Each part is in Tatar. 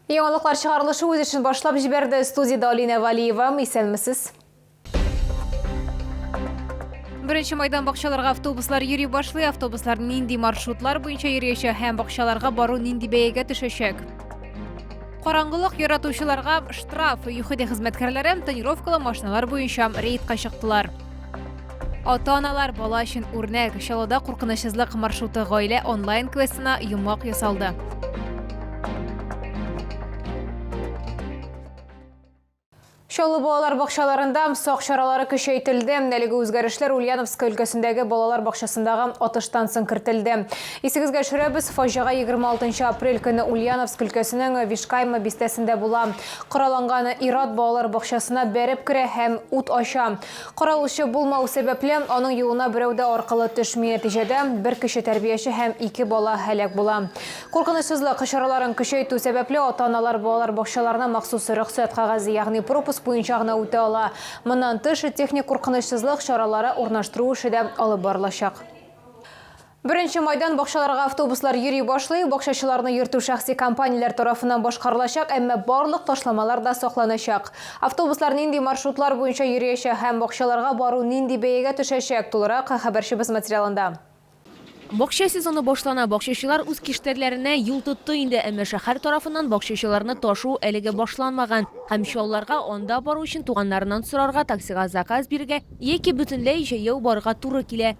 Яңалыклар чыгарылышы үз эшен башлап җибәрде. Студиядә Алинә Валиева. Исәнмесез. Беренче майдан бакчаларга автобуслар йөри башлый. Автобуслар нинди маршрутлар буенча йөриячәк һәм бакчаларга бару нинди бәягә төшәчәк? Караңгылык яратучыларга штраф. ЮХИДИ хезмәткәрләре тонировкалы машиналар буенча рейдка чыктылар. Ата-аналар бала өчен үрнәк Чаллыда куркынычсызлык маршруты гаилә онлайн квестына йомгак ясалды. Чаллы балалар бакчаларында сак чаралары көчәйтелде. Әлеге үзгәрешләр Ульяновск өлкәсендәге балалар бакчасындагы атыштан соң кертелде. Исегезгә төшерәбез, фаҗига 26 апрель көне Ульяновск өлкәсенең Вишкайма бистәсендә була. Коралланган ират балалар бакчасына бәреп керә һәм ут ача. Каралучы булмау сәбәпле, аның юлына берәү дә аркылы төшми, нәтиҗәдә, бер кеше тәрбияче һәм ике бала һәлак була. Куркынычсызлык чараларын көчәйтү сәбәпле, ата-аналар балалар бакчаларына махсус рөхсәт кәгазе, ягъни пропуск буенча гына үтә ала. Моннан тыш, техник куркынычсызлык чаралары урнаштыру эше дә алып барылачак. Беренче майдан бакчаларга автобуслар йөри башлый, бакчачыларны йөртү шәхси компанияләр тарафыннан башкарылачак, әмма барлык ташламалар да сакланачак. Автобуслар нинди маршрутлар буенча йөриячәк һәм бакчаларга бару нинди бәягә төшәчәк, тулырак хәбәрчебез материалында. Бакча сезоны башлана, бакчачылар үз киштәрләренә юл тотты инде, әмма шәһәр тарафыннан бакчачыларны ташу әлегә башланмаган һәм Чаллыга анда бару өчен туганнарыннан сорарга, таксига заказ бирергә яки бөтенләй җәяү барырга туры килә.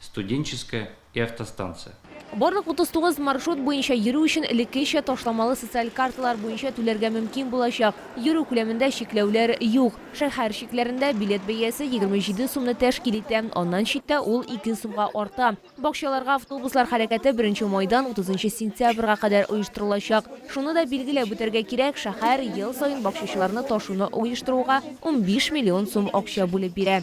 Студенческая и автостанция. Барлык 39 маршрут буенча йөрү өчен элеккечә ташламалы социаль карталар буенча түләргә мөмкин булачак. Йөрү күләмендә чикләүләр юк. Шәһәр чикләрендә билет бәясе 27 сумны тәшкил итә, аннан читтә ул ике сумга арта. Бакчаларга автобуслар хәрәкәте беренче майдан 30 сентябрьгә кадәр оештырылачак. Шуны да билгеләп үтәргә кирәк, шәһәр ел саен бакчачыларны ташуны оештыруга 15 миллион сум акча бүлеп бирә.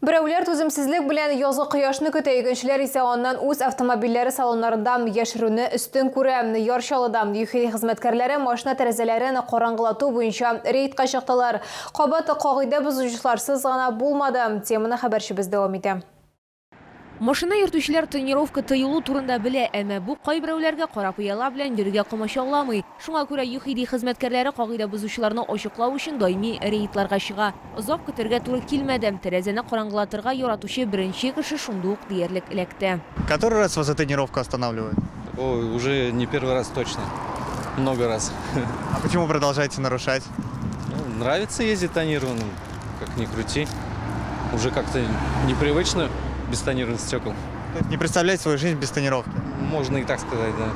Берәүләр түземсезлек белән язгы кояшны көтә, икенчеләр исә аннан үз автомобильләре салоннарында яшерүне өстен күрә. Ярчалыда ЮХИ хезмәткәрләре машина тәрәзәләрен караңгылату буенча рейдка чыктылар. Кабат кагыйдә бозучыларсыз гына булмады. Теманы хәбәрчебез дәвам итә. Машина йөртүчеләр тонировка тыелу турында белә, әмма бу кайберәүләргә кара пыяла белән йөрергә комачауламый. Шуңа күрә ЮХИДИ хезмәткәрләре кагыйдә бозучыларны ачыклау өчен даими рейдларга чыга. Озак көтәргә туры килмәде, тәрәзәне караңгылатырга яратучы беренче кеше шундый ук диярлек эләкте. Который раз вас эта тонировка останавливает? Ой, уже не первый раз точно, много раз. А почему продолжаете нарушать? Нравится ездить тонированным. Как ни крути, уже как-то непривычно без тонированных стекол. То есть не представляете свою жизнь без тонировки? Можно и так сказать, да.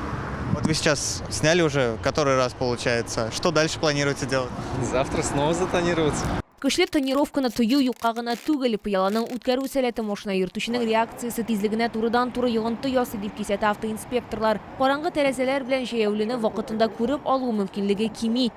Вот вы сейчас сняли уже который раз получается. Что дальше планируете делать? Завтра снова затонироваться. Көчләп тонировканы тою юкка гына түгел, пыяланың үткәрү сәләте машина йөртүченең реакциясе тизлегенә турыдан-туры йогынты ясый, дип кисәтә автоинспекторлар. Караңгы тәрәзәләр белән җәяүлене вакытында күреп алу мөмкинлеге кими.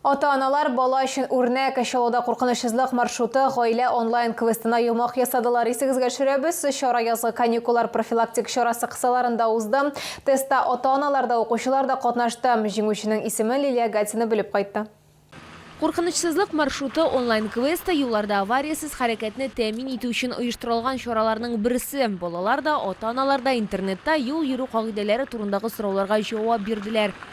Ата-аналар бала өчен үрнәк, Чаллыда куркынычсызлык маршруты гаилә онлайн-квестына йомак ясадылар. Исегезгә төшерәбез, чара язгы каникуллар профилактик чарасы кысаларында узды. Тестта ата-аналар да, укучылар да катнашты. Җиңүченең исемен Лилия Гатина белеп кайтты. Куркынычсызлык маршруты онлайн-квесты юлларда авариясез хәрәкәтне тәэмин итү өчен оештырылган чараларның берсе. Балалар да, ата-аналар да интернетта юл йөрү кагыйдәләре турындагы сорауларга җавап бирделәр.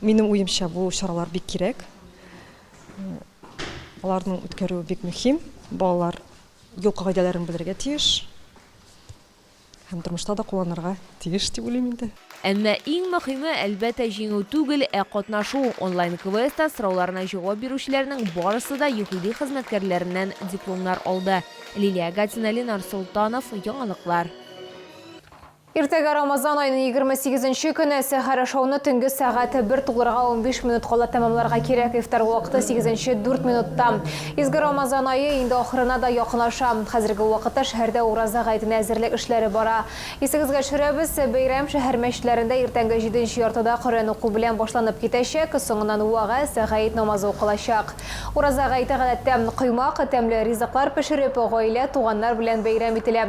Минем уемча бу чаралар бик кирәк. Аларның үткәрүе бик мөһим. Балалар юл кагыйдәләрен белергә тиеш һәм тормышта да кулланырга тиеш дип уйлыйм инде. Әмма иң мөһиме, әлбәттә, җиңү түгел, ә катнашу. Онлайн-квестта сорауларына җавап бирүчеләрнең барысы да ЮХИДИ хезмәткәрләреннән дипломнар алды. Лилия Гатина, Ленар Солтанов, Яңалыклар. Иртәгә Рамазан аеның егерме сигезенче көне, сәхәр ашауны төнге сәгать бер тулырга унбиш минут кала тәмамларга кирәк, ифтар вакыты сигезенче дүрт минутта. Изге Рамазан ае инде ахырына да якынаша. Хәзерге вакытта шәһәрдә Ураза гаетенә әзерлек эшләре бара. Исегезгә төшерәбез, бәйрәм шәһәр мәчетләрендә иртәнге җиденче яртыда Коръән уку белән башланып китәчәк, соңыннан вәгазь, гает намазы укылачак. Ураза гаете гадәттә, коймак, тәмле ризыклар пешереп, гаилә, туганнар белән бәйрәм ителә.